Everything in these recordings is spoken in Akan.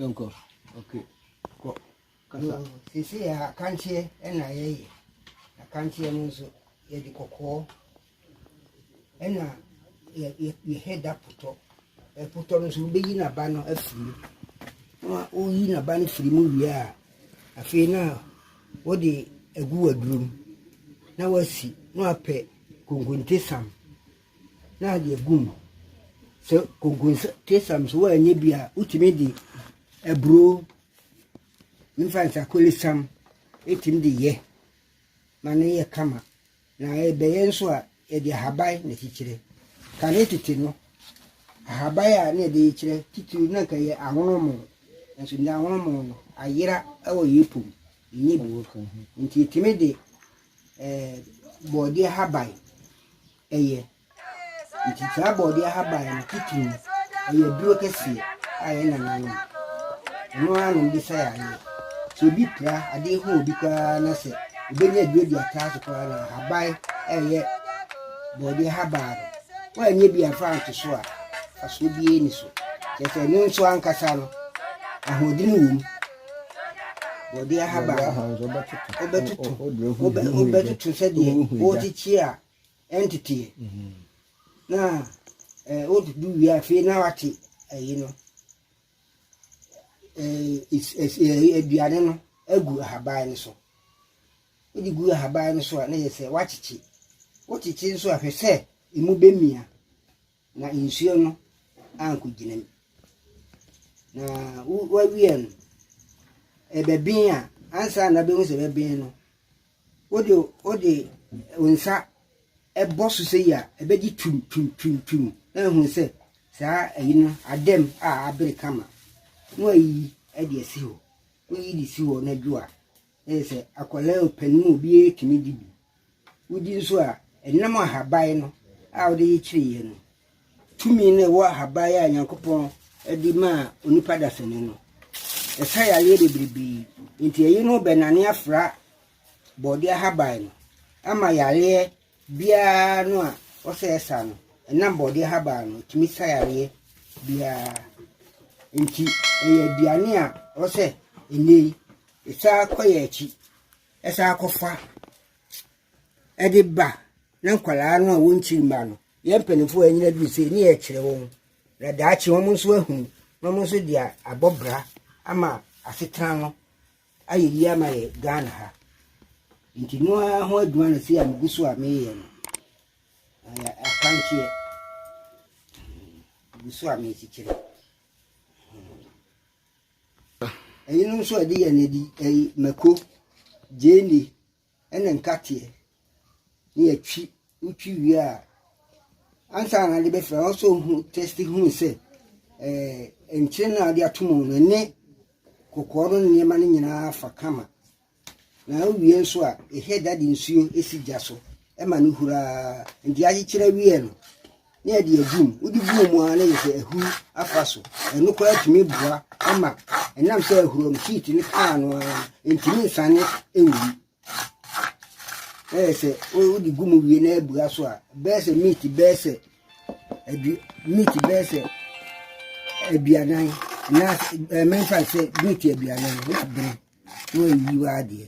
Nko. Okay. Kɔ. Kasa. Sisi yɛ akanteɛ ɛna yɛyɛ. Akanteɛ no nso yɛde kɔkɔɔ. Ɛna yɛ yɛ yɛ hɛda potɔ. Ɛpotɔ no nso wobeyi n'aba no afiri mu. Na woyi n'aba no firi mu wie a, afei na wode agu w'aduro mu na woasi na woapɛ konkonte sam na ade agu mu. Sɛ konkonte sam nso woannya bi a, wotumi de aburo mfa nsakole sam tumi de yɛ ma no yɛ kama. Na ɛbɛyɛ nso a, yɛde ahaban na ɛkyekyerɛ. Kane tete no, ahaban a na yɛde rekyerɛ titiriw na anka ɛyɛ ahonomo, nanso nnɛ ahonomo no ayera wɔ yɛn po mu, ɛnyɛ bi. Enti yɛtumi de eh, borɔdeɛ haban yɛ. Nkyekyeraa Borɔdeɛ ahaban no titiriw no, ɛyɛ aduro kɛseɛ a yɛn nananom, ɛno ara na wɔde sa yareɛ. Sɛ obi pira, adeɛ hu obi koraa na sɛ obɛnya aduro de atra so koraa na ahaban a ɛyɛ borɔdeɛ ahaban no, woanyɛ bi amfa anto so a, mfasoɔ biara nni so. Kyerɛ sɛ ɛno nso ankasa no, ahoɔden wɔ mu. Borɔdeɛ ahaban no, wobɛtoto, wobɛ, wobɛtoto sɛdeɛ worekyekyere a ɛnteteɛ na wodudu wie afei na wate ayi no aduane no agu ahaban no so wode gu ahaban no so a na yɛ sɛ woakyekye wokyekye nso ahwɛ sɛ ɛmu bɛmia Na nsuo no ankɔgyina mu. Na wawie no, ɛbɛben a, ansa na bɛhu sɛ ɛbɛben no, wode wode nsa ɛbɔ so sɛ yi a, ɛbɛgye twim twim twim twim na ɛhu sɛ saa ayi no adam a abere kama. Na wayi ɛde asi hɔ. Woyi de si hɔ na dwo a, Ɛyɛ sɛ akwadaa o, panin o, obiara tumi di bi. Wodi nso a, ɛnam ahaban no a wode kyekyereyɛ no tumi no ɛwɔ ahaban a Nyankopɔn de maa onipa dasani no. Ɛsa yareɛ bebrebe. Nti ɛyi no bɛnane afra bɔɔde ahaban no ama yareɛ biara no a ɔsɛ ɛsa no, ɛnam bɔɔdeɛ habaa no ɛtumi sa yareɛ biara nti ɛyɛ aduane a ɔsɛ ɛnɛ yi ɛsaa kɔ yɛ akyi ɛsaa kɔfa ɛde ba na nkwadaa no a wɔnkyiri mma no yɛn mpanimfoɔ a ɛnyina duru sɛ ne yɛkyerɛ wɔn na daakye wɔn nso ahunu na wɔn nso de abɔ bra ama asetena no ayɛ yie ama yɛ Ghana ha nti no ara ho adwuma na sei a megu so a meyɛ no ayɛ akanteɛ megu so a merekyekyere ɛyinom nso a ɛde yɛ no ɛdi ɛyi mako gyeene ne nkateɛ na yɛatwi wotwi wie a ansa na ade bɛfira wɔn sɛ ohun tɛsti hunu sɛ ɛɛ nkyɛn na ade ato mu no ne kɔkɔɔ no nneɛma no nyinaa fa kama na awie nso a ɛhɛ da de nsuo esi gya so ɛma no huraa nti akyekyerɛ wie no ne ɛde adi mu. Wode gu wɔn ara na yɛ sɛ ahuru afa so. Ɛno koraa tumi boa ama ɛnam sɛ ahuru no heat no kaa no ara ntumi nsane nwi. Na yɛ sɛ wode gu mu wie na abua so a bɛyɛ sɛ meat bɛyɛ sɛ adu meat bɛyɛ sɛ aduanan na ɛmɛmfa sɛ meat aduanan na bere na wayi w'adeɛ.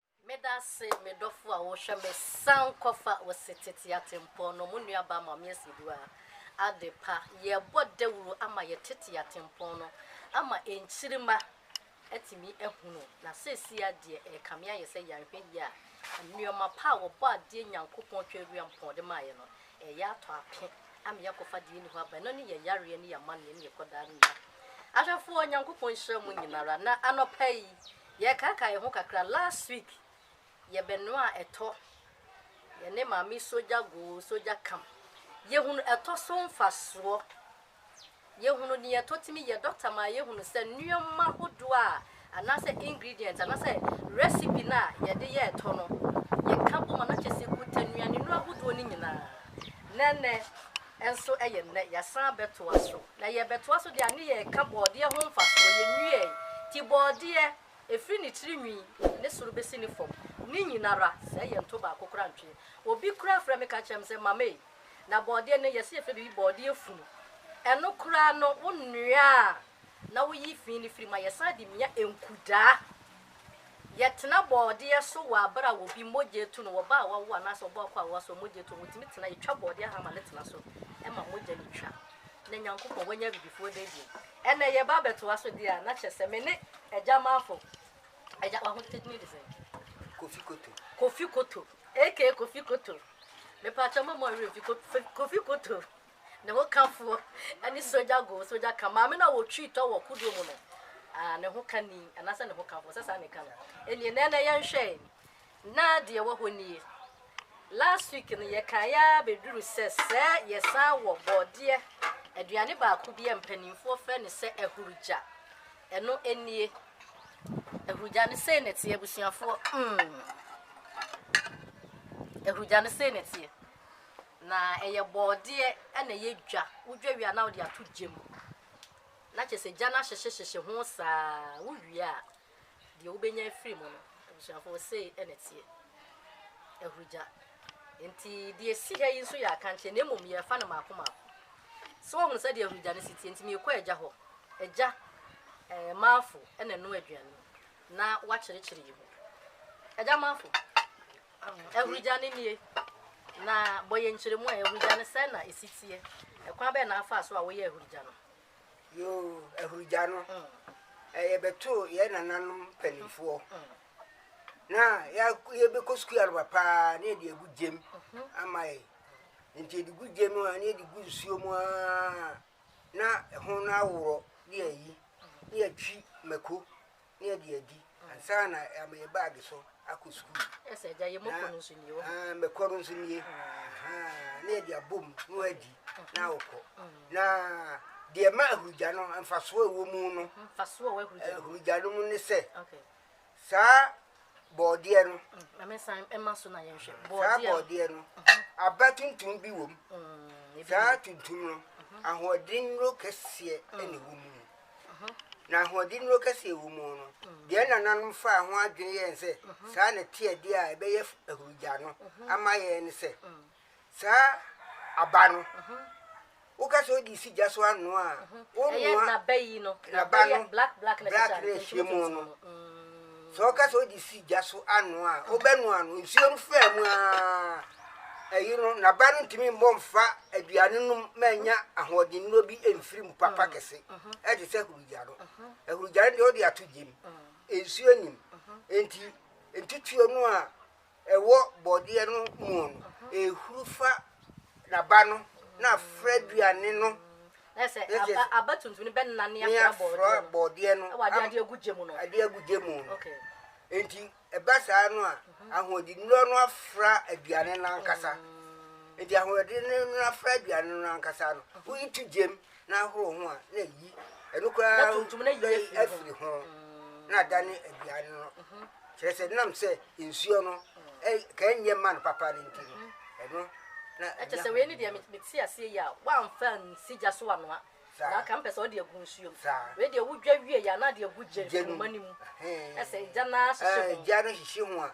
Meda ase me dɔfo a wohwɛ me san kɔfa wo se tete atempɔn no mo nua baa Maame Asibua adepa yɛbɔ dawuro ama yɛ tete atempɔn no ama nkyirima atumi ahunu na seesei a deɛ ɛkame ayɛ sɛ yanhwɛ yie a nnoɔma pa a wɔbɔ adeɛ Nyankopɔn twa awia mpɔn de maa yɛ no ɛyɛ atɔ ape ama yɛakɔfa deɛ ɛni hɔ aba ɛno ne yɛ yareɛ ne yɛ amaneɛ ne yɛ kɔdaa no nyina ahwɛfoɔ Nyankopɔn nhyira mo nyinara na anɔpa yi Yɛkaakae yɛn ho kakra last week yɛbɛnoaa ɛtɔ yɛne maame sogya goo sogya kam yɛhunu ɛtɔ so mfasoɔ yɛhunu deɛ ɛtɔ tumi yɛ doctor maa yɛhunu sɛ nneɛma hodoɔ a anaasɛ ingredient anaasɛ recipe no a yɛde yɛ ɛtɔ no yɛka bom a na kyɛ sɛ ɛkuta nnuanenuro ahodoɔ no nyinaa na ɛnɛ Nso ɛyɛ nnɛ, yɛasan bɛtoa so. Na yɛrebɛtoa so de a ne yɛreka bɔɔdeɛ ho mfasoɔ. Yɛnwiɛɛe. Ti bɔɔdeɛ, ɛfiri ne tiri nwi, ne soro bɛsi ne fam, ne nyina ara, sɛɛ yɛ nto baako koraa ntweɛ. Obi koraa frɛ me ka kyerɛ me sɛ, Mama ei, na bɔɔdeɛ no, yɛse yɛfrɛ biribi bɔɔdeɛ funu. Ɛno koraa no, wo noa a, na woyi fi no firi mu a, yɛsan de mia nkudaa. Yɛtena bɔɔdeɛ so wɔ abere a obi mogya atu no, ɔbaa a wawo anaasɛ ɔbaa kɔ a waso a mogya atu no, wɔtumi tena, yɛtwa bɔɔdeɛ hama no tena so ma mogya no twa na Nyankopɔn wanya abibifoɔ da bio. Ɛnnɛ yɛba abɛtoa so deɛ a, na kyerɛ sɛ me ne Agya Marko, Agya, w'ahote din de sɛn? Kofi Koto. Kofi Koto, aka Kofi Koto. Mepaakyɛw mma mo werɛ mfi Kofi Koto. Ne ho kafoɔ ne Soja Go, Soja Ka, maame no a wɔtwii tɔ wɔ kodoɔ mu no, ah, ne ho kani, anaasɛ ne ho kafoɔ, sɛ saa na ɛka no. Ɛnneɛ, na ɛnɛ yɛnhwɛe, na deɛ ɛwɔ hɔ nie. Last week no, yɛkaeɛ ara bɛduru sɛ sɛ yɛsan wɔ bɔɔdeɛ, aduane baako bi a mpanimfoɔ frɛ no sɛ ahurugya. Ɛno nie. Ahurugya no sei na ɛteɛ, abusuafoɔ. Mm. Ahurugya no sei na ɛteɛ. Na ɛyɛ bɔɔdeɛ na ɛyɛ dwa. Wodwa wie a na wode ato gya mu. Na kyerɛ sɛ gya no ahyehyehyehye ho saa. Wowie a, deɛ wobɛnya afiri mu no, abusuafoɔ, sei na ɛteɛ. Ahurugya. Enti deɛ ɛsi ha yi nso yɛ akankyeɛ na mmom yɛrefa no mmaako mmaako. So woahunu sɛdeɛ ahurugya no si teɛ? Enti merekɔ agya hɔ. Agya, eh, Maafo na ɛnoa aduane na wakyerɛkyerɛ yɛn mu. Agya Maafo, Ahurugya no nie, na bɔ yɛn nkyerɛmu a ahurugya no sɛn na ɛsi teɛ? Ɛkwan bɛn na afaa so a woyɛɛ ahurugya no? Yoo, ahurugya no, mm. yɛbɛtoo yɛn nananom mpanimfoɔ. Mm. Mm. na yɛbɛkɔ sukuu anɔpa paa na yɛde agu gyam mhm. ama yɛ nti yɛde gu gyam a na yɛde gu nsuo mu aa na ɛho no aworɔ ne ayi ne yɛtwi mako ne ade adi ansa na ama yɛ baage so akɔ sukuu. Ɛsɛ agya yɛ mɔkɔ no nso nie wɔ. Ah, mɛkɔ no nso nie. Ah, ne yɛde abom na wadi na awokɔ. Na deɛ ma ahurugya no mfasoɔ ɛwɔ mu no. Mfasoɔ ɛwɔ ahurugya. Ahurugya no mu ne sɛ. Okay. Saa bɔɔdeɛ no. Mame san ɛma so na yɛnhwɛ. Bɔɔdeɛ. Saa bɔɔdeɛ no aba tuntum bi wɔ mu. Saa tuntum no ahoɔden nnuro kɛseɛ ɛna ɛwɔ mu. na ahoɔdennuro kɛseɛ wɔ mu no, deɛ nananom faa ho adwene yɛɛ ne sɛ saa na ɛte adeɛ a ɛbɛyɛ ahurugya no ama yɛn ne sɛ, saa aba no, woka sɛ wode si gya so anoa a, wonoa naba no black na ɛhyɛ mu no. Sɛ ɔka sɛ ɔde si gya so anoa a, ɔbɛnoa no. Nsuo no faa mu ara ayi no, na ba no ntumi mmɔ mfa aduane nom ma anya ahoɔdennuro bi mfiri mu papa mm. kɛse, mm-hmm. ɛte sɛ ahurugya no. Mm-hmm. Ahurugya no deɛ ɔde ato gyem, mm. nsuo nim. Enti ntutuo no a ɛwɔ bɔdeɛ no muo no, ɛhuru fa n'aba no na afra aduane no, na kyerɛ sɛ aba, aba tuntum no bɛnane afra bɔdeɛ no, ɛwɔ adeɛ adeɛ agu gya mu no, adeɛ agu gya mu no, enti ɛba saa no a, mhm. ahoɔdennuro no afra aduane no ankasa, mm. enti ahoɔdennuro no afra aduane no ankasa no, woyi to gyam na ahoro ho a, na ayi ɛno koraa na tuntum na yi afiri ho mm. na ada ne aduane no mm-hmm. kyerɛ sɛ nam sɛ nsuo no mm. ka ɛnyɛ ma no papa no nti no mm-hmm. ɛno na ɛkyɛ sɛ wei ne deɛ mete aseɛ yi a woamfa nsi gya so anoa na aka mpɛ sɛ ɔde agu nsuom wei deɛ wodwa wie yɛ anaa de agu gya numa no mu ɛsɛ gya no ahyehyɛ ho gya no hyehye ho a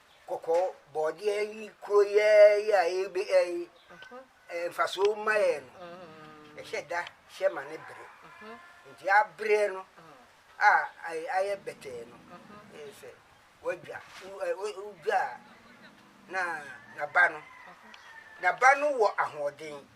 kɔkɔɔ bɔɔdeɛ yi kuro yɛɛ yi a ɛbɛ ɛyi ɛɛ nfasoɔ ma yɛ no ɛhyɛ da hyɛ ma ne bere nti abere no a ayɛ ayɛ bɛtɛɛ no ɛyɛ sɛ wadwa wodwa a na naba no naba no wɔ ahoɔden.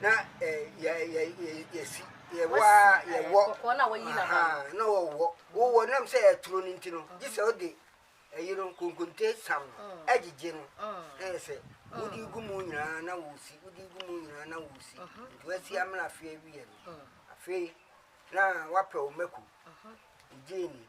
Na ɛ yɛ yɛ yɛ yɛ si yɛ wɔ a yɛ wɔ. Kɔkɔɔ na wɔyi na ba. Na wɔ wɔ wɔ wɔ nam sɛ ɛturo no nti no gye sɛ ɔde ɛyi no nkonkonte sam no ɛgyegye no na yɛ sɛ wodi gu mu nyinaa na wɔ si wodi gu mu nyinaa na wɔ si nti wɔ si amena afei awie no afei na wapɛ wɔ mako gye ni.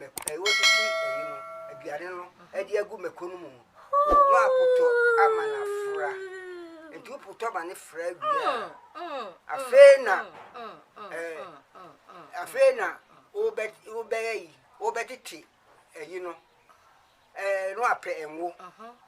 mako a wɔasisi ayi no, aduane no de agu mako no mu no apotɔ ama no afra. Nti wopotɔ ma no fra wie a, afei na ɛɛ afei na wobɛ wobɛyɛ yi wobɛtete ayi no ɛɛ no apɛ ngo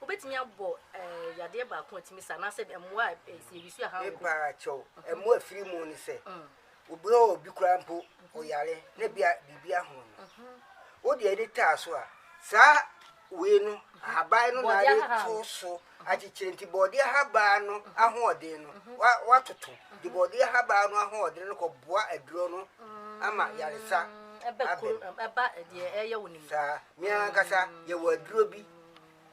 Wobɛtumi abɔ yadeɛ baako a ɛtumi sa anaasɛ mmoa a ɛsɛ yɛde sua hanko. Mepaa kyɛw, ɛmmoa ɛfiri mu ne sɛ, obi hɔ obi koraa mpo ɔyare na bia biribi aho no. Wode ani taa so a, saa wei no ahaban no na ade to so akyekyere nti bɔɔdeɛ ahaban no ahoɔden no watoto de bɔɔdeɛ ahaban no ahoɔden no kɔboa aduro no ama yaresa ɛba ɛdeɛ ɛyɛ wo ne mu saa Yɛn ankasa yɛwɔ aduro bi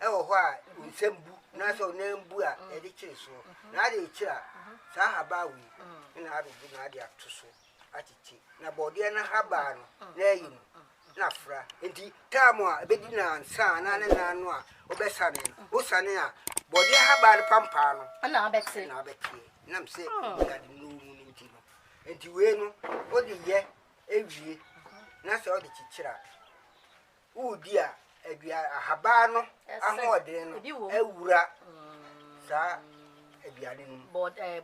wɔ hɔ a nsɛm bu na sɛ ɔnam bu a yɛde kyere soɔ na ade rekyere a saa habaa wei na abɛbu na ade ato so akyekye na bɔɔdeɛ no habaa no na ɛyɛ mu na fra nti taamu a ɛbɛdi nansa na ne nan no a wobɛsane no wosane a bɔɔdeɛ habaa no pampaa no na abɛteɛ nam sɛ ɛdi ade no mu no nti no nti wei no wode yɛ Ewie, na sɛ ɔde kyekyere a, wodi a, adua ahabaa no ahoɔden no awura saa aduane no mu.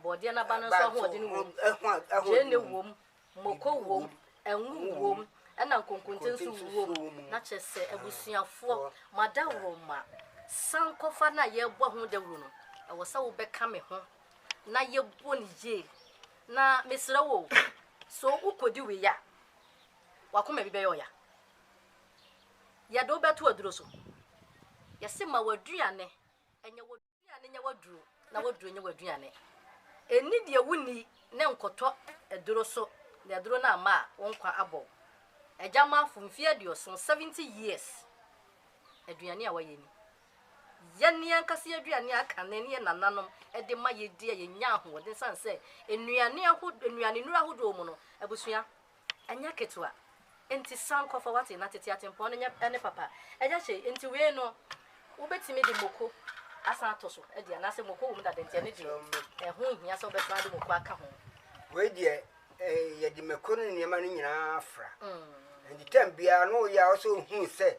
Bɔɔdeɛ no aba no nso ahoɔden wom. Gyeene wom, moko wom, ngo wom, ɛna nkonkonte nso wom. Na kyerɛ sɛ abusuafoɔ, mo adaworoma sankɔfa no a yɛrebɔ ho dawuro no, ɛwɔ sɛ wobɛka me ho na yɛbɔ no yie. Na mesrɛ wo o, so wokɔdi wei a, w'akoma bi bɛyɛ ɔya. Yɛde wo bɛto aduro so. Yɛse ma w'aduane nyɛ w'aduane nyɛ w'aduro na w'aduro nyɛ w'aduane. Ɛnni deɛ wonni ne nkɔtɔ aduro so na aduro no amma a, wo nkwa abɔ wo. Agyamafo, mfeɛ aduoson, 70 years, aduane a wayɛ ni. Yɛn ankasa aduane a kane ne yɛn nananom de ma yedi a yenya ahoɔden esiane sɛ nnuane ahodoɔ, nnuanennuru ahodoɔ wɔ mu no, abusua, ɛnyɛ ketewa. Enti san kɔ fa w'ate na tete atempɔn no nyɛ ne papa. Ɛyɛ hye. Enti wei no, wobetumi de moko asan ato so adi anaasɛ moko wom dada nti ɛno deɛ ɛho nhia sɛ wobɛsan de moko aka ho. Wei deɛ, yɛde mako ne nneɛma no nyinaa fra. Enti tɛm biara no woyɛ a ɔsɛ ohuu sɛ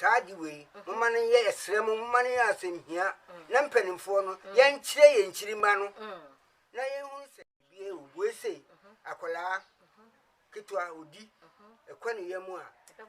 saa ade wei, momma no nyɛ, yɛsrɛ mo, momma no nyɛ asɛmhia na mpanimfoɔ no, yɛnkyerɛ yɛn nkyirimma no na yɛnhunu sɛ bie ɔbue sei, akwadaa ketewa ɔdi, ɛkɔ ne yam a,